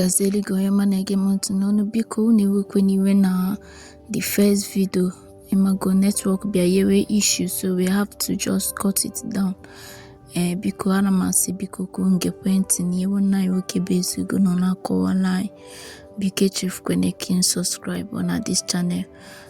gaziere gị onye ọma na-ege m ntị n'ọnụ biko unu ewekwena iwe na the first video ị mago network bịa nyewe issue so we have to just cut it down ee eh, biko ana m asị biko ka unu gekwe ntị n'ihe nwanne anyị nwoke bụ ezigo nọ na-akọwala anyị biko echefukwana ka ị subscribe na this channel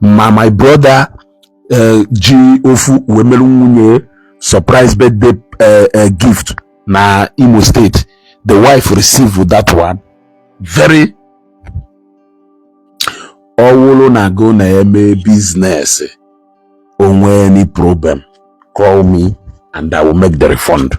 ma my brother eh, ji ofu wee mere nwunye surprise birthday eh, eh, gift na Imo State the wife received that one very ọ wụrụ na go na-eme business o nwee any problem call me and I will make the refund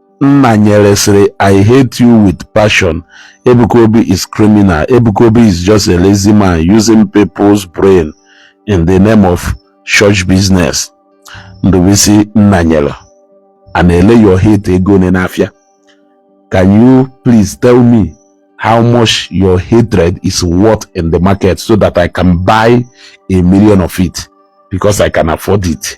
Nna nyere sịrị I hate you with passion. Ebuka Obi is criminal. Ebuka Obi is just a lazy man using people's brain in the name of church business. Ndubisi Nna nyere. A na-ele your hate ego one n'afịa. Can you please tell me how much your hatred is worth in the market so that I can buy a million of it because I can afford it?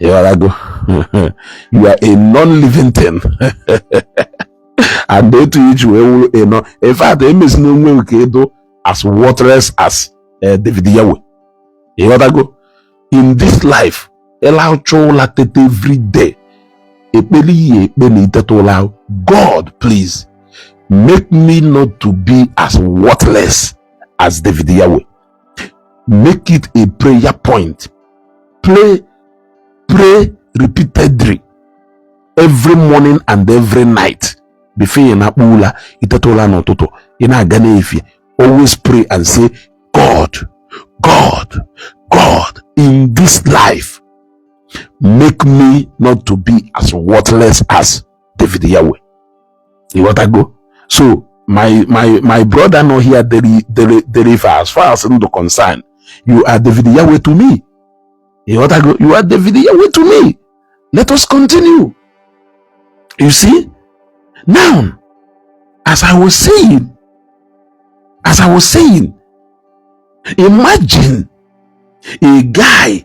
ịghọtago you are a non-living thing and otu i ji wee wụrụ you know in fact emezina onwe gị ka ị dị as worthless as eh, David Yawe ịghọtago in this life ị lahụcha ụla tete every day ekpele ị ya-ekpe na ị teta ụla God please make me not to be as worthless as David Yawe make it a prayer point pray pray repeatedly every morning and every night before ị nakpuo ụla ị teta ụla n'ụtụtụ ị na-aga n'efie always pray and say god god god in this life make me not to be as worthless as david yahweh ịghọtago so my my my brother nọ here dere dere dere ife as far as ndụ concern you are David Yahweh to me ịghọtago you are David Yahweh to me let us continue you see now as I was saying as I was saying imagine a guy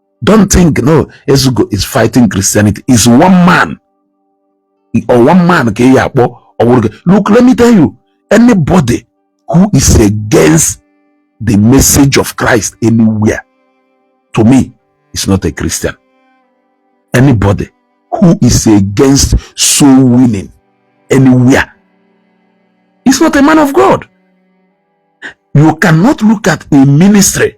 don't think no ezugo is fighting christianity is one man or one man ka ị ya akpọ ọwụrụ look let me tell you anybody who is against the message of christ anywhere to me is not a christian anybody who is against soul winning anywhere is not a man of god you cannot look at a ministry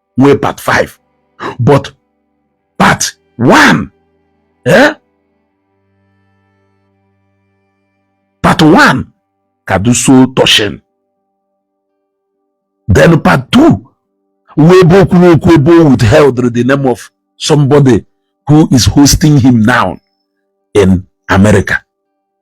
nwee part 5 but part 1 eh part 1 ka dị so touching then part 2 wụ ebe okwu okwu ebe o withheld the name of somebody who is hosting him now in America.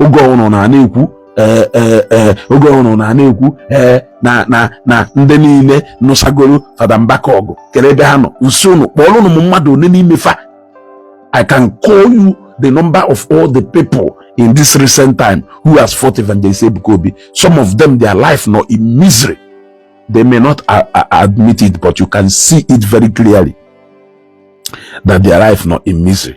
oge ọhụrụ na na-ekwu eh, eh, eh, oge ọhụrụ na na-ekwu na na na ndị niile nụsagoro fada mbaka ọgụ kere ebe ha nọ m sị unu kpọọrọ m mmadụ one n'ime fa I can call you the number of all the people in this recent time who has fought Evangelist Ebuka Obi some of them their life nọ in misery they may not uh, uh, admit it but you can see it very clearly that their life nọ in misery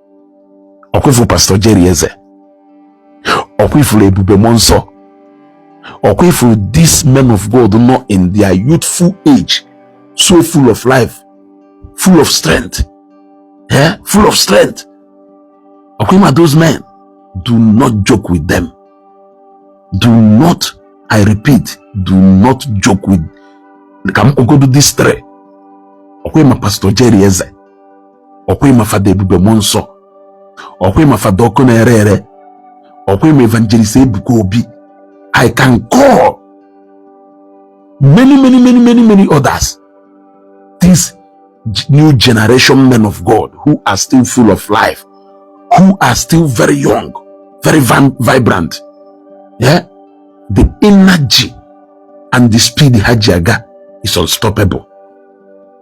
ọkwa ifuru pastọ Jerry Eze ọkwa ifuru ebube mmụọ nsọ ọkwa ifuru these men of God nọ in their youthful age so full of life full of strength eh? full of strength ọkwa ima those men do not joke with them do not I repeat do not joke with ka m kpogodo this three ọkwa ịma pastọ Jerry Eze ọkwa ị ma fada ebube mmụọ nsọ ọkwa ị ma fada ọkụ na-ere ere ọkwa ị ma evangelist ebuka obi i can call many many many many many others these new generation men of god who are still full of life who are still very young very vibrant yeah the energy and the speed ha ji aga is unstoppable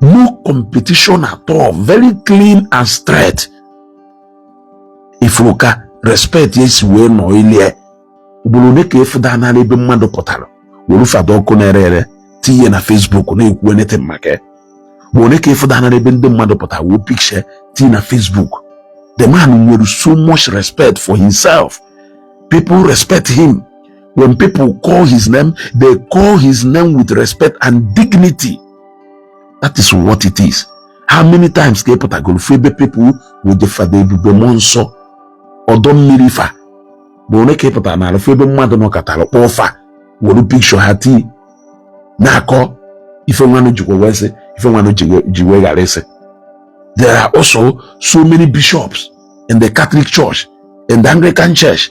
no competition at all very clean and straight ifuru ka respect ya esi wee nọ ilie ugboro one ka ịfụdanala ebe mmadụ pụtara were fada Ọkụnerere tiye na Facebook na-ekwu anything maka ya ugboro one ka ịfụdanala ebe ndị mmadụ pụtara wee picture tiye na Facebook the man nwere so much respect for himself people respect him When people call his name, they call his name with respect and dignity. That is what it is. How many times ka ị pụtagolu fụ ebe people wete fada ebube mmụọ nsọ ọdọ mmiri fa ugboro one ka ị pụtanalụ fụ ebe mmadụ nọkatara kpọọ fa were pikshọ ha tii na-akọ ife nwanụ jikwa wee sị ife nwanụ ji wee ghara ịsị there are also so many bishops in the Catholic Church in the Anglican Church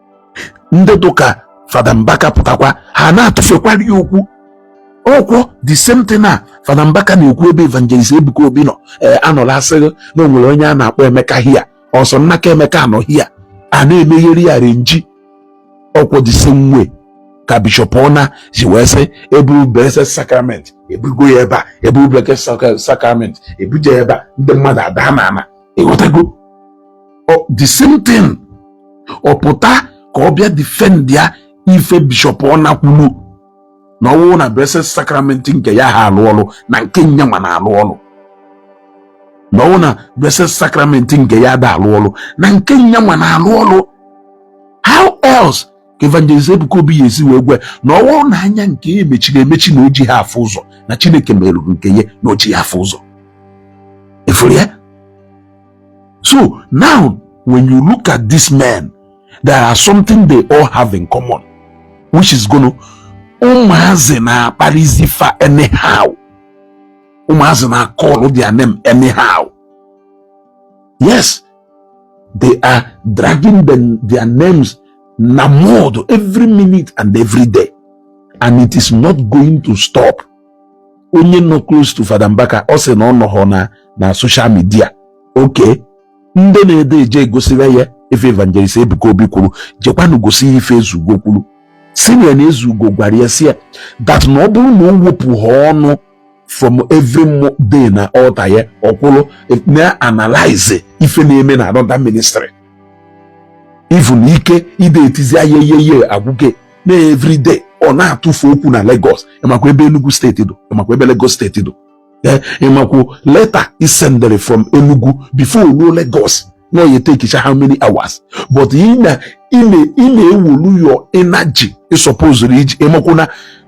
ndị dụka fada mbaka pụtakwa ha na-atụfekwara ya okwu ọkwọ the same thing a fada mbaka na-ekwu ebe evangelist ebuka obi nọ ee anọla asị gị na o nwere onye a na-akpọ emeka hia ọsọ nnaka emeka anọ hia a na-emegheri arrangee ọkwọ the same way ka bishọp Onah ji wee sị eburu blessed sacrament ebugo ya ebe a eburu blessed sacrament ebuje ya ebe a ndị mmadụ ada n'ana ịghọtago the same thing ọ pụta ka ọ bịa defend ya ife bishọp Onah kwulu na ọwụ na blessed sacrament nke ya aha alụ ọlụ na nke nyanwa na-alụ ọlụ na ọwụ na blessed sacrament nke ya ada alụ ọlụ na nke nyanwa na-alụ ọlụ how else ka evangelist Ebuka Obi ya esi wee gwa na ọ bụrụ na anya nke ya emechiri emechi na o jiha afụ ụzọ na Chineke merụrụ nke ya na o jiha afụ ụzọ ifuru ya so now when you look at this man there are something they all have in common which is gụnụ ụmụazị na-akparịzi fa anyhow ụmụazị na-acall their name anyhow yes they are dragging their names na mud every minute and every day and it is not going to stop onye nọ close to Fada Mbaka ọ sị na ọ nọghọ na social media okay ndị na-ede eje egosira ya ife evangelist Ebuka Obi kwuru jekwanụ gosi ya ife Ezeugo kwuru sị ya na Ezeugo gwara ya sị ya that na ọ bụrụ na o wepụha ọnụ from every day na altar ya ọkwụrụ na-analyze ife na-eme na another ministry even ike ide etizi ayeyeye agwụge na every day ọ na-atụfe okwu na Lagos ịmakwa ebe Enugu steeti dụ ịmakwa ebe Lagos steeti dụ eh, ịmakwa leta e sendere from Enugu before o ruo Lagos na ọ ya-etakecha how many hours but ị na-ewolu your energy ị supposedụrụ iji ịmakwa na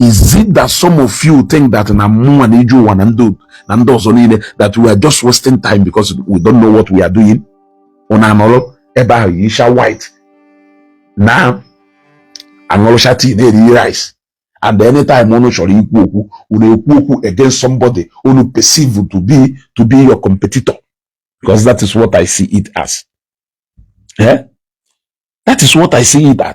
is it that some of you think that na mụnwa na ije ụwa na ndị na ndị ọzọ niile that we are just wasting time because we don't know what we are doing unu anọrọ ebe ahụ yisha white na-aṅụrụcha tii na-eri rice and anytime unu chọrọ ikwu okwu unu ekwu okwu against somebody unu perceive to be to be your competitor because that is what I see it as. Yeah? That is what I see it as.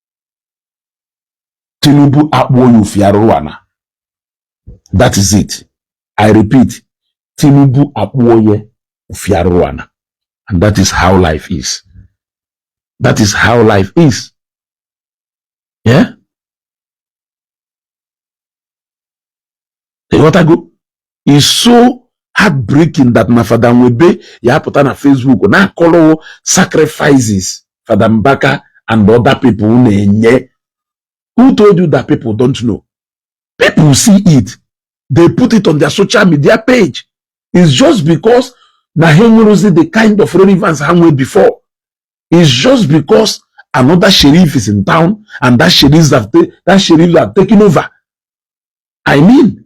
Tinubu akpụọ ya ofi arụrụ ana that is it I repeat Tinubu akpụọ ya ofi arụrụ ana and that is how life is that is how life is yeah? ịghọtago is so heartbreaking that na Fada Nwebe ya apụta na Facebook na-akọrọwo sacrifices Fada Mbaka and other people na-enye who told you that people don't know people see it they put it on their social media page it's just because na ha enwerozi the kind of relevance ha nwee before it's just because another sheriff is in town and that sheriff have, that sheriff have taken over i mean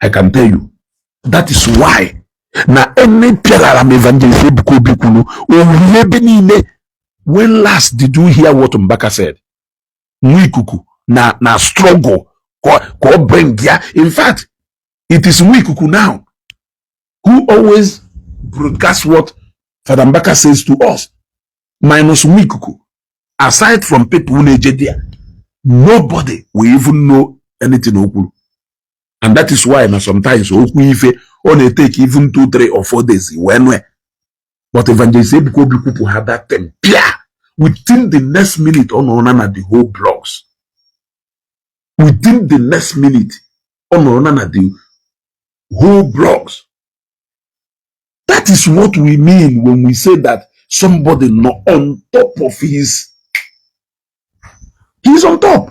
I can tell you that is why na any pialara m evangelist Ebuka Obi kwuru o wuwe ebe niile when last did you hear what Mbaka said nwa ikuku na struggle ka ọ bring ya in fact it is nwa ikuku now who always broadcast what Father Mbaka says to us minus nwa ikuku aside from people na-eje there nobody will even know anything o kwuru and that is why na sometimes o kwuo ife ọ na-eteki even two three or four days wee nwe but evangelist ebuka obi kwupụ ha that time pia within the next minute ọ nọrọ na na the whole blogs within the next minute ọ nọrọ na na the whole blogs that is what we mean when we say that somebody nọ on top of his he's on top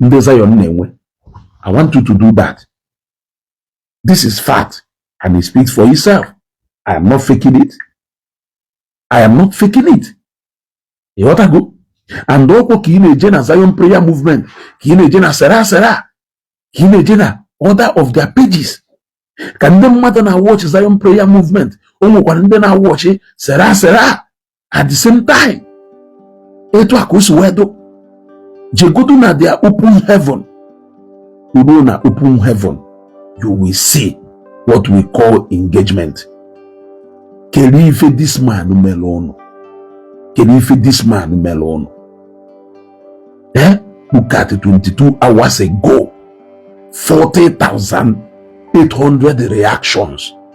ndị Zion na-enwe I want you to do that this is fact and it speaks for itself I am not faking it I am not faking it ịghọtago and ọkwa ka ị na-eje na Zion prayer movement ka ị na-eje na sera sera ka ị na-eje na other of their pages ka ndị mmadụ na-awọchị Zion prayer movement o nwekwara ndị na-awọchị sera sera at the same time etu a ka o si wee dụ jegodu na their open heaven i ruo na open heaven you will see what we call engagement kedu ife this man mere ụnụ kedu ife this man mere ụnụ eh look at 22 hours ago 40,800 reactions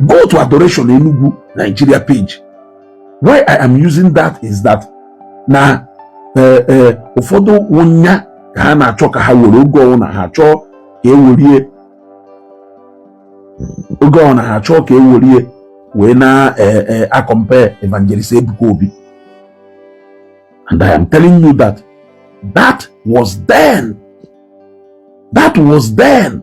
go to adoration enugu nigeria page why i am using that is that na eh, eh, ụfọdụ wụ nya ka ha na-achọ ka ha were oge ọwụna ha chọọ ka e werie oge ọwụna ha chọọ ka e werie wee na-acompare eh, evangelist Ebuka Obi and I am telling you that that was then that was then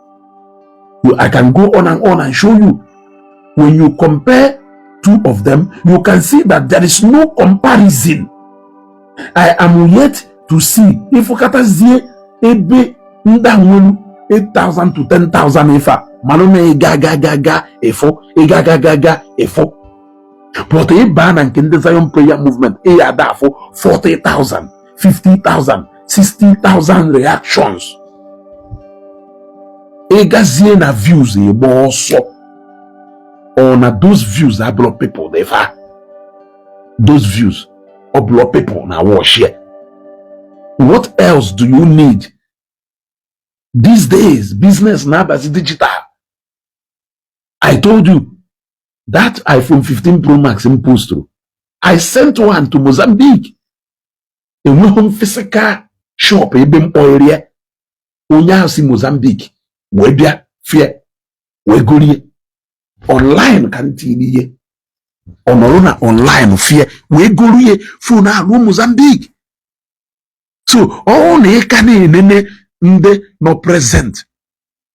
You, I can go on and on and show you. When you compare two of them, you can see that there is no comparison. I am yet to see ị fụkatazie ebe ndị a nwelu 8,000 to 10,000 ife a malụ na ịga ga ga ga efo ịga ga ga ga efo but ị baa na nke ndị Zion prayer movement ị ya-ada afụ 40,000 50,000 60,000 reactions ị gazie na views ị gbaa ọsọ ọ na those views abụrọ people dị fa those views ọ bụrọ people na-awatch ya what else do you need these days business na-abazi digital i told you that iphone 15 pro max m posturu i sent one to mozambique enweghị m physical shop ebe m kpọrọ ya onye ahụ si Mozambique wee bịa fụ ye wee gorie online ka m tiiri ye ọ nọrọ na online fụ ye wee gorie phone ahụ ruo Mozambique so ọ wụ na ị ka na-enene ndị nọ present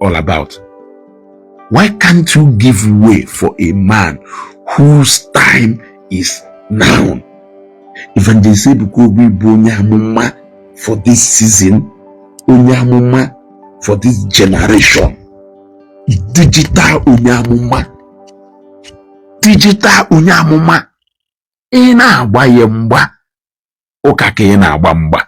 all about? Why can't you give way for a man whose time is now? Evangelist Ebuka Obi bụ onye amụma for this season, onye amụma for this generation, digital onye amụma, digital onye amụma, ị na-agba ya mgba ụka ka ị na-agba mgba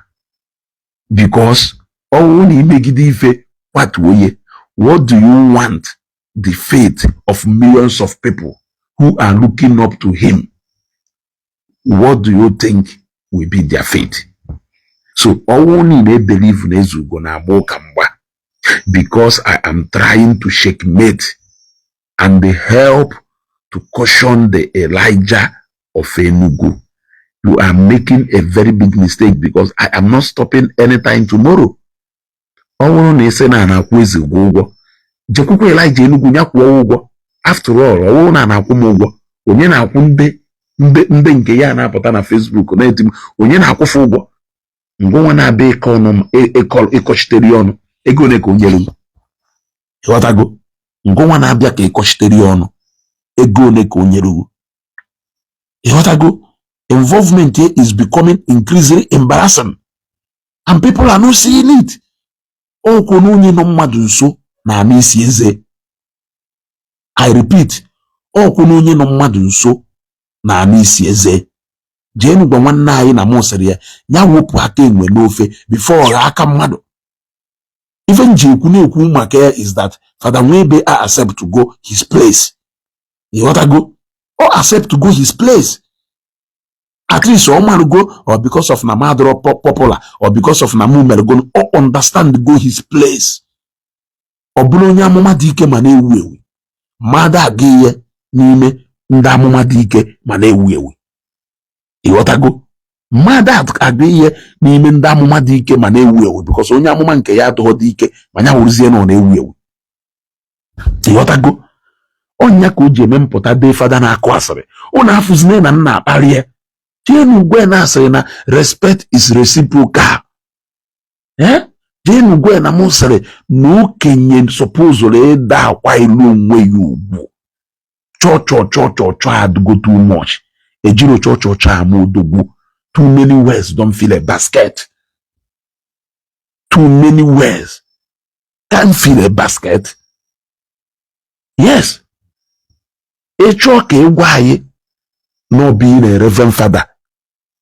because ọ wụrụ na i megide ife kwatuo ye what do you want the fate of millions of people who are looking up to him what do you think will be their fate so ọ wụrụ na ị na-ebelieve na Ezeugo na-agba ụka mgba because i am trying to checkmate and help to caution the Elijah of Enugu. You are making a very big mistake because I am not stopping anytime tomorrow. ọ bụrụ na ị sị na a na-akwụ Ezeugo ụgwọ jekwukwa Elijah Enugu ya kwụọ ụgwọ after all ọ bụrụ na a na-akwụ m ụgwọ onye na-akwụ ndị ndị ndị nke ya na-apụta na Facebook na-eti m onye na-akwụ fa ụgwọ ngwa nwa m na-abịa ikwuchitere e, e, ọnụ ego ole ka o nyere m ịghọtago ngịnwa na-abịa ka ị kọchitere ya ọnụ ego ole ka o nyere gị ịghọtago involvement here is becoming increasingly embarrassing and people are not seeing it okwu na onye nọ mmadụ nso na-anụ isi eze i repeat okwu na onye nọ mmadụ nso na-anụ isi eze jeenụ gwa nwanne anyị na mụ sịrị ya ya wepụ aka enwe n'ofe before ọ ghọọ aka mmadụ ife m ji ekwu na-ekwu maka ya is that Fada Nwebe a accept go his place ịghọtago ọ accept go his place at least ọ marụgo ọ because of na m adịrọ popular or because of na mụ enwerọ ego ọ understand go his place ọ bụrọ onye amụma dị ike ma na-ewu ewu ma a da-agụ ya n'ime ndị amụma dị ike ma na-ewu ewu ịghọtago ma a da-agụ ya n'ime ndị amụma dị ike ma na-ewu ewu because onye amụma nke ya adịghọdị ike ma ya wụrụzie na ọ na-ewu ewu ịghọtago ọ ya ka o ji eme mpụta dee fada na-akụ asịrị ụnụ afụzine na m na-akparị ya jeenụ gwa ya na a sịrị na respect is reciprocal ee eh? jeenụ gwa ya na m sịrị na okenye supposuru ịda akwanyelu onwe ya ugwu chọchọchọ chọchọchọ adịgo too much ejiro chọchọchọ ama odogwu too many words don't fill a basket too many words can't fill a basket yes ị chọọ ka ị gwa anyị na being a reverend fada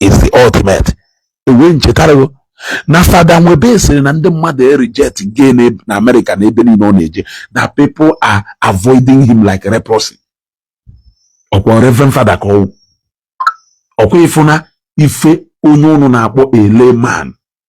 is the ultimate ewee m chetara gị na fada nwebe sịrị na ndị mmadụ ereject go ya na amerịka na ebe niile ọ na-eje na people are avoiding him like leprosy ọkwa reverend fada ka ọ wụ ọkwa ị fụ na ife onye ụnụ na-akpọ a layman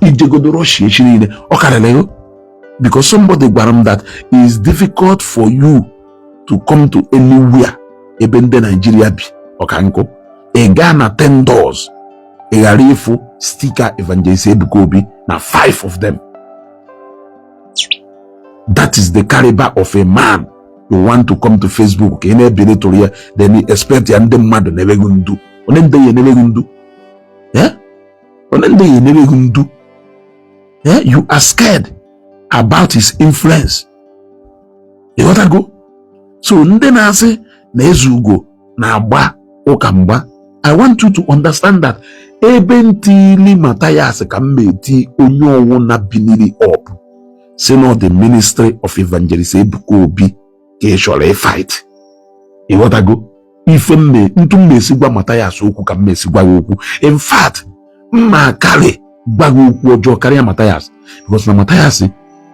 i jegodu Rọshia echi niile ọ karịrị ego because somebody gwara m that is difficult for you to come to anywhere ebe ndị naijiria bi ọka nkụ ị gaa na ten doors ị ghara ịfụ sticker evangelist ebuka obi na five of them that is the caliber of a man you want to come to facebook ka ị na-ebelittle ya then expect na ndị mmadụ na-emeghị ndu onye ndị ya emeghị ndu onye ndị ya emere gị ndu eh, you are scared about his influence ịghọtago so ndị na-asị na Ezeugo na-agba ụka mgba i want you to understand that ebe m tili Matthias ka m na-eti onye ọwụna binili up sị na ọ the ministry of evangelist ebuka obi ka ị chọrọ ịfight ịghọtago ife mme ntu m ma-esi gwa Mathias okwu ka m ma-esi gwa ya okwu in fact m ma-akarị gwa gị okwu ọjọọ karịa Mathias because na Mathias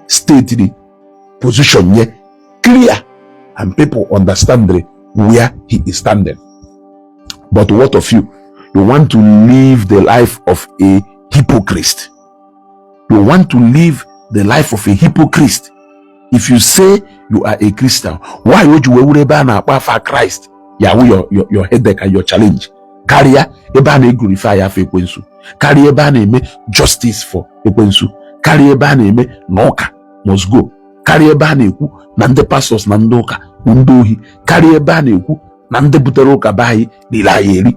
stated position ye clear and people understand where he is standing but what of you you want to live the life of a hypocrite you want to live the life of a hypocrite if you say you are a christian why would you were ebe a na-akpọ afa kraịst ya wụ your, your, your headache and your challenge karịa ebe a na-eglorifya afa ekwensu karịa ebe a na-eme justice for ekwensu karịa ebe a na-eme na ụka must go karịa ebe a na-ekwu na ndị pastors na ndị ụka bụ ndị ohi karịa ebe a na-ekwu na ndị butere ụka be anyị riri anyị eri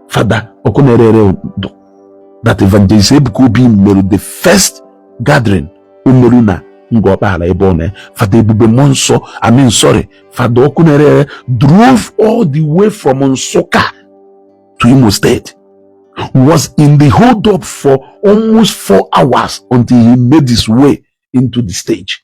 fada ọkụ na-ere ere day that evangelist Ebuka Obi mere the first gathering o meru na Ngor Okpala ebe ọ na fada ebube mmụọ nsọ I mean sorry fada ọkụ na-ere ere drove all the way from Nsukka to Imo State was in the hold up for almost four hours until he made his way into the stage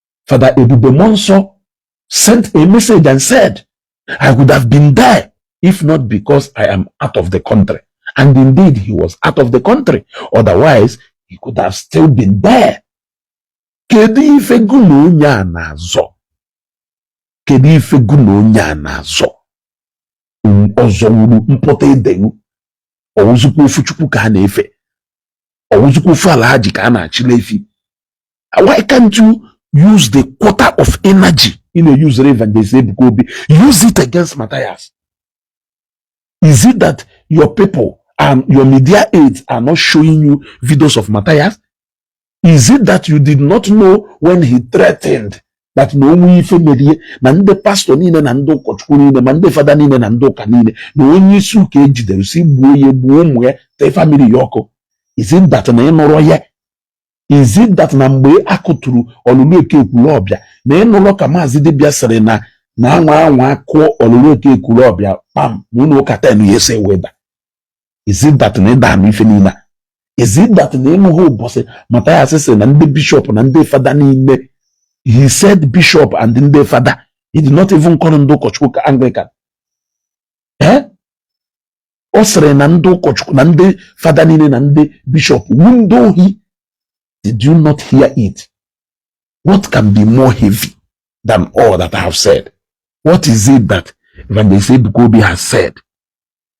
Father Ebube Muonso sent a message and said, I would have been there if not because I am out of the country. And indeed, he was out of the country. Otherwise, he could have still been there. Kedu ife gụ na onye a na-azọ? Kedu ife gụ na onye a na-azọ? Ọzọ wuru mpụta edeghu. Ọ wụzịkwa ofu Chukwu ka a na-efe. Ọ wụzịkwa ofu Alhaji ka a na-achịla efi. why can't you use the quarter of energy ị na-euse evangelist Ebuka Obi use it against Matthias is it that your people and your media aides are not showing you videos of Matthias is it that you did not know when he threatened that na o nwee ife mere ye na ndị pastor niile na ndị ụkọchukwu niile ma ndị fada niile na ndị ụka niile na onye isi ụka e jidere sị gbuo ya gbuo ụmụ ya tee family ya ọkụ is it that na ị nụrọ ya is it that na mgbe a kụturu Olulu Eke Ekwulobia na ị nụrọ ka maazị dibịa sịrị na na a nwaa anwa kụọ Olulu Eke Ekwulobia kpam na ụlọ ụka ten ya-eso wee da is it that na ị da-anụ ife niile a? is it that na ị nụghị ụbọchị Matthias sịrị na ndị bishọp na ndị fada niile he said bishop and ndị fada he did not even call ndị ụkọchukwu Anglican eh? ọ sịrị na ndị ụkọchukwu na ndị fada niile na ndị bishọp wu ndị ohi did you not hear it what can be more heavy than all that I have said what is it that Evangelist Ebuka Obi has said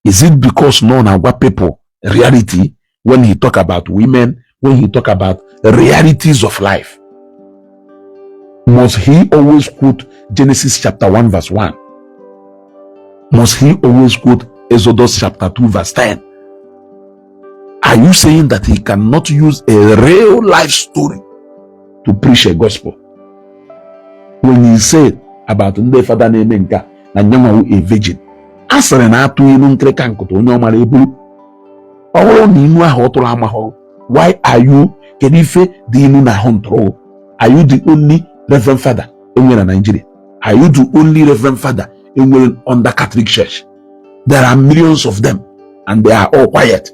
is it because na ọ na-agwa people reality when he talk about women, when he talk about realities of life, must he always quote Genesis chapter 1 verse 1? Must he always quote Exodus chapter 2 verse 10? Are you saying that he cannot use a real life story to preach a gospel? When he said about ndị fada na-eme nka na yanwa wụ a virgin, a sịrị na a tụ inu nkịrịka nkụta onye ọ mara eburu ọ wụrụ na inu ahụ ọ tụrụ amahọ why are you kedu ife dị inu na ahụ ntụrụ are you the only reverend father e nwere na Nigeria are you the only reverend father e nwere under Catholic Church there are millions of them and they are all quiet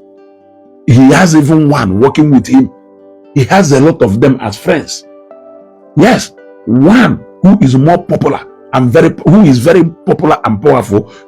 he has even one working with him he has a lot of them as friends yes one who is more popular and very who is very popular and powerful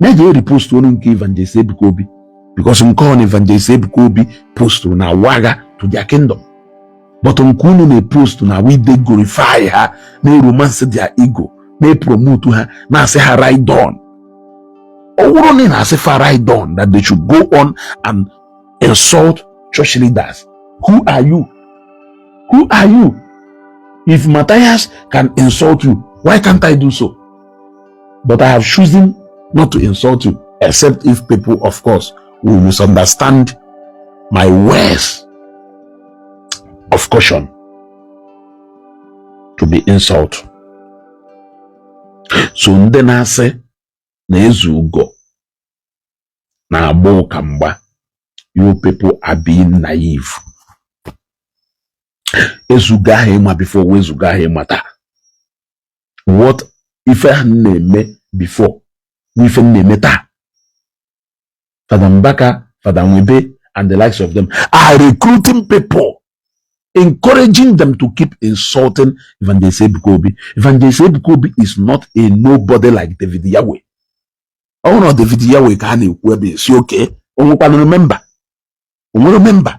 na-eje eripost onu nke evangelist ebuka obi because nke ọ na evangelist ebuka obi postụrụ na-awụ agha to their kingdom but nke unu na-epost na we dey glorify ha na-eromance their ego na-epromote ha na-asị ha ride on ọ wụrụ na ị na-asị fa ride on that they should go on and insult church leaders who are you who are you if Matthias can insult you why can't I do so But I have chosen not to insult you, except if people, of course, will misunderstand my words of caution to be insult. So ndị na-asị na Ezeugo na-agba ụka mgba you people are being naive. Ezeugo ahụ ị ma before wụ Ezeugo ahụ ị ma taa. what ife ahụ m na-eme before wụ ife m na-eme taa Fada Mbaka Fada Nwebe and the likes of them are recruiting people encouraging them to keep insulting Evangelist Ebuka Obi. Evangelist Ebuka Obi is not a nobody like David Yahweh. ọ wụrụ na David Yahweh ka a na-ekwu ebe sị okay o nwekwanụrụ member o nwere member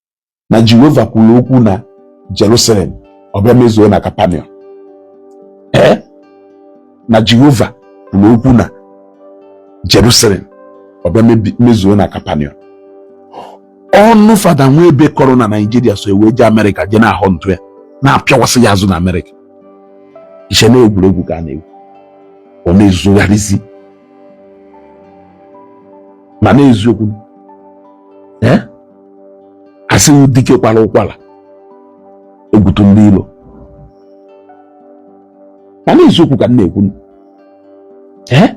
na Jehova kwuru okwu na Jerusalem ọ bịa mezuo na Kapaniọm ee na Jehova kwuru okwu na Jerusalem ọ bịa mezuo na Kapaniọm ọnụ fada Nwebe kọrọ na Naịjirịa so e wee jee Amerịka jee na-ahọntụ ya na-apịawasị ya azụ na Amerịka i che na egwuregwu ka a na-egwu ọ na-ezugharịzi mana eziokwu ee a sị dike kwara ụkwara egwu tụ ndị ilo mana eziokwu ka m na-ekwu ee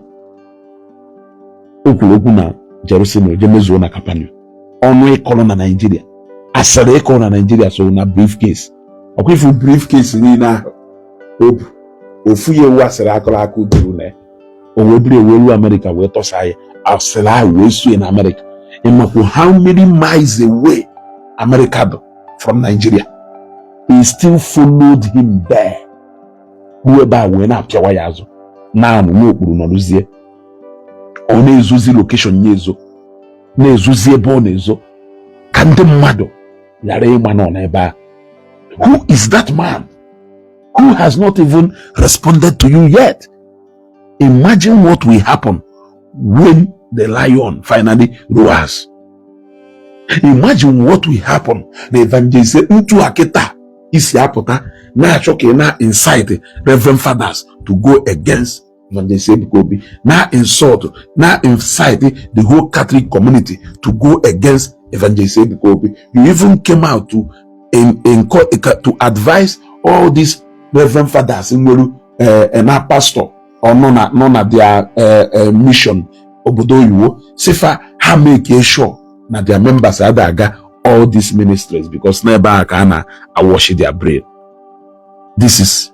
o kwuru okwu na Jerusalem je mezuo na Kapanọm ọnụ ị kọrọ na Naịjirịa asịrị ị kọrọ na Naịjirịa so na briefcase ọ kwa ị fụ briefcase niile ahụ o bu ofu ya wụ asịrị a kọrọ aka duru na ya o wee buru e wee ruo amerịka wee tọsa ya asịrị ahụ wee sue na amerịka ị makwu how many miles away amerịka dụ from nigeria he still followed him there ruo ebe a wee na-apịawa ya azụ na-anọ n'okpuru nọrụzie ọ na-ezozi location ya ezo na-ezozi ebe ọ na-ezo ka ndị mmadụ ghara ịma na ọ nọ ebe a who is that man who has not even responded to you yet. Imagine what will happen when the lion finally roars. Imagine what will happen na evangelist ntu a kịta isi apụta na-achọ ka ị na incite reverend fathers to go against Evangelist Ebuka Obi na insult na incite the whole Catholic community to go against Evangelist Ebuka Obi. You even came out to in, in, to advise all these reverend fathers nwere eh, eh, na pastor or nọ na their eh, mission obodo oyibo sị fa ha make sure na their members ada aga all these ministries because n'ebe a ka a na-awashi their brain this is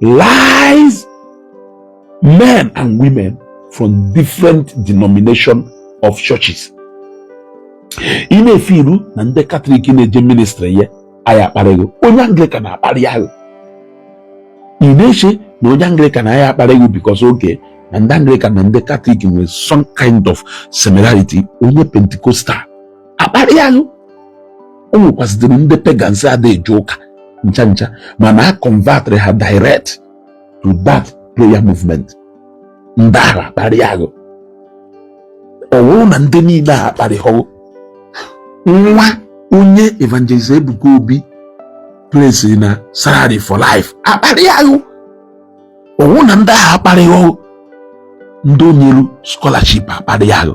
lies men and women from different denomination of churches ị na-efe iru na ndị katọlik na-eje ministry ya aya akparị ghị onye anglikan akparịa ghụ ị na-eche na onye anglikan aya akparị ghị because okay na ndị anglikan na ndị katọlik nwere some kind of similarity onye pentikostal akparịa ghụ o nwekwazidịrị ndị pagans ada eje ụka ncha ncha mana a convertịrị ha direct to that prayer movement ndị ahụ akparịa ghụ ọ bụrụ na ndị niile a akparịhọ ghụ nwa onye evangelist Ebuka Obi place na salary for life akparịa ghụ ọ bụrụ na ndị ahụ akparịhọ ghụ ndị o nyelu scholarship akparịa ghụ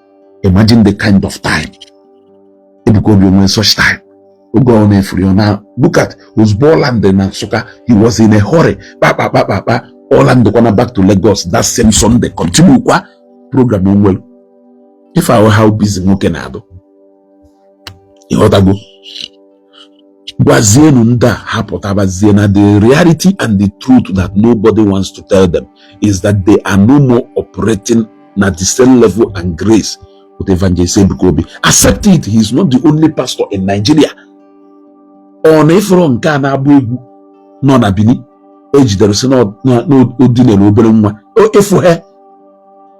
imagine the kind of time Ebuka Obi nwee such time oge ọ na-efuri ọ na look at ozugbo ọ landị na Nsụka he was in a hurry kpakpakpakpakpa ọ landịkwana back to Lagos that same Sunday continue kwa program o nwelu ife a wụ how busy nwoke na-adụ ị ghọtago gwazienu ndị a ha pụtabazie na the reality and the truth that nobody wants to tell them is that they are no more operating na the same level and grace with evangelist Ebuka Obi accept it he is not the only pastor in Nigeria ọ na ị fụrọ nke a na-agba egwu nọ na Benin e jidere sị na o dinere obere nwa efu ha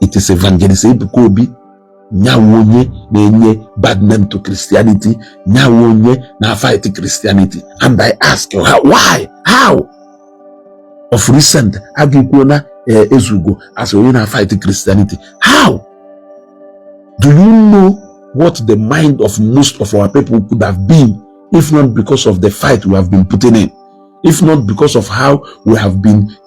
it is evangelist Ebuka Obi nyawe onye na-enye bad name to Christianity nyawe onye na-fight Christianity and I ask you how, why how of recent agịkwuo na eh, ezugo as onye na-fight Christianity how do you know what the mind of most of our people could have been if not because of the fight we have been putting in if not because of how we have been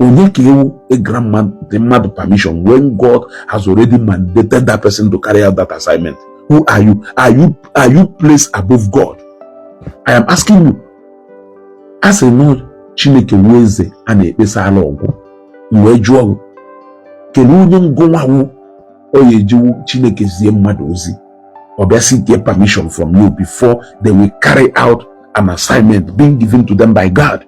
onye ka ị wụ ị grant mmadụ permission when God has already mandated that person to carry out that assignment who are you are you are you placed above God I am asking you a sị na ọ Chineke wụ eze a na-ekpesara ọgụ m wee jụọ gị kedu onye gụnwa wụ onye i ji wụ Chineke zie mmadụ ozi ọ bịa seek their permission from you before they will carry out an assignment being given to them by God.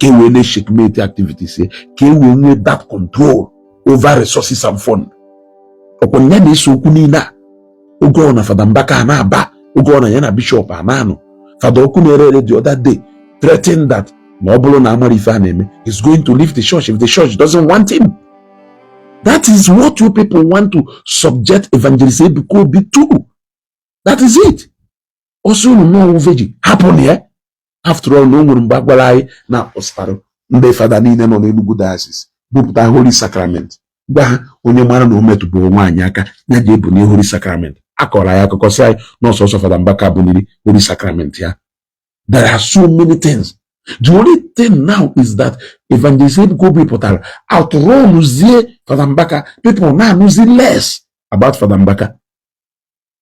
ka e wee na-echeckmate activities ya ka e wee nwee that control over resources and fund ọkwa ya na-ese okwu niile a oge ọ na fada mbaka a na-aba ọgụ na ya na bishọp a na-anụ fada ọkụ na-ere ere the other day threatened that na ọ bụrụ na amara ife a na-eme he's going to leave the church if the church doesn't want him that is what you people want to subject evangelist Ebuka Obi to that is it ọsọ unu n'ọwụ veji happen ya after all na o nwere mgbe a gwara anyị na a kpọsara ndị fada niile nọ n'Enugu diocese bupụta holy sacrament gwa ha onye mara na o metụbụrụ nwaanyị aka ya ji ebunie holy sacrament a kọrọ anyị akụkọ sị anyị na ọ sọsọ fada Mbaka buniri holy sacrament ya there are so many things the only thing now is that evangelist Ebuka Obi pụtara outrunzie fada Mbaka people na-anụzi less about fada Mbaka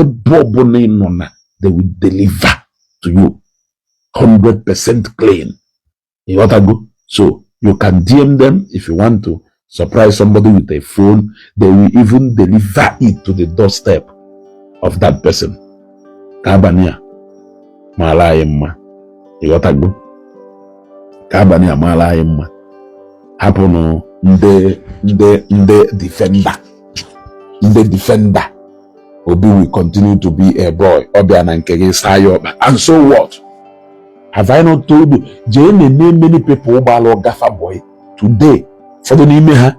ebe ọbụla ị nọ na they will deliver to you 100% clean ịghọtago so you can DM them if you want to surprise somebody with a phone they will even deliver it to the doorstep of that person ka abalị a maara anyị mma ịghọtago ka abalị a maara anyị mma hapụnụ ndị ndị ndị defender ndị defender Obi will continue to be a boy. Ọ bịa na nke gị saa ya ọkpa. And so what? Have I not told you? Jee nee na many people gbaara ọga fa boy today. Ụfọdụ n'ime ha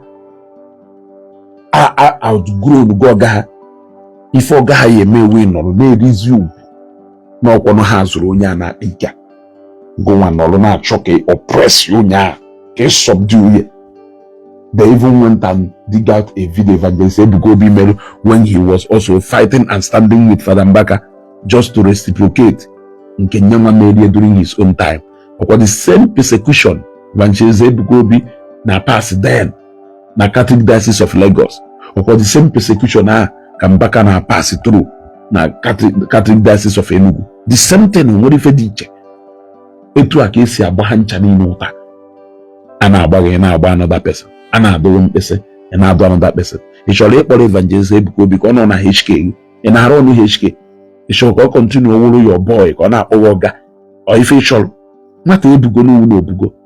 a outgrown go ọga ha. Ife ọga ha ya eme wee nọrọ na-erizi ugwu na ọ kwanụ ha zụrụ onye a na-akpa ike. gụnwa nọrọ na-achọ ka ị oppress onye a ka ị subdue ya they even went and dig out a video evangelist Ebuka Obi mere when he was also fighting and standing with Fada Mbaka just to reciprocate nke nyanwa meere ya during his own time ọkwa the same persecution evangelist Ebuka Obi na pass then na Catholic Diocese of Lagos ọkwa the same persecution a ka Mbaka na pass through na Catholic Diocese of Enugu the same thing o nwere ife dị iche etu a ka e si agba ha ncha niile ụta a na-agba gị ị na-agba another person a na-adụ gị mkpịsị ị na-adụ another person ị chọrọ ịkpọrọ evangelist Ebuka Obi ka ọ nọ na HK ị na-arụ ọnụ HK ị chọrọ ka ọ kọntinu wụrụ your boy ka ọ na-akpọ gị ọga ọ ife ị chọrọ nwata ebugo n'uwu na o bugo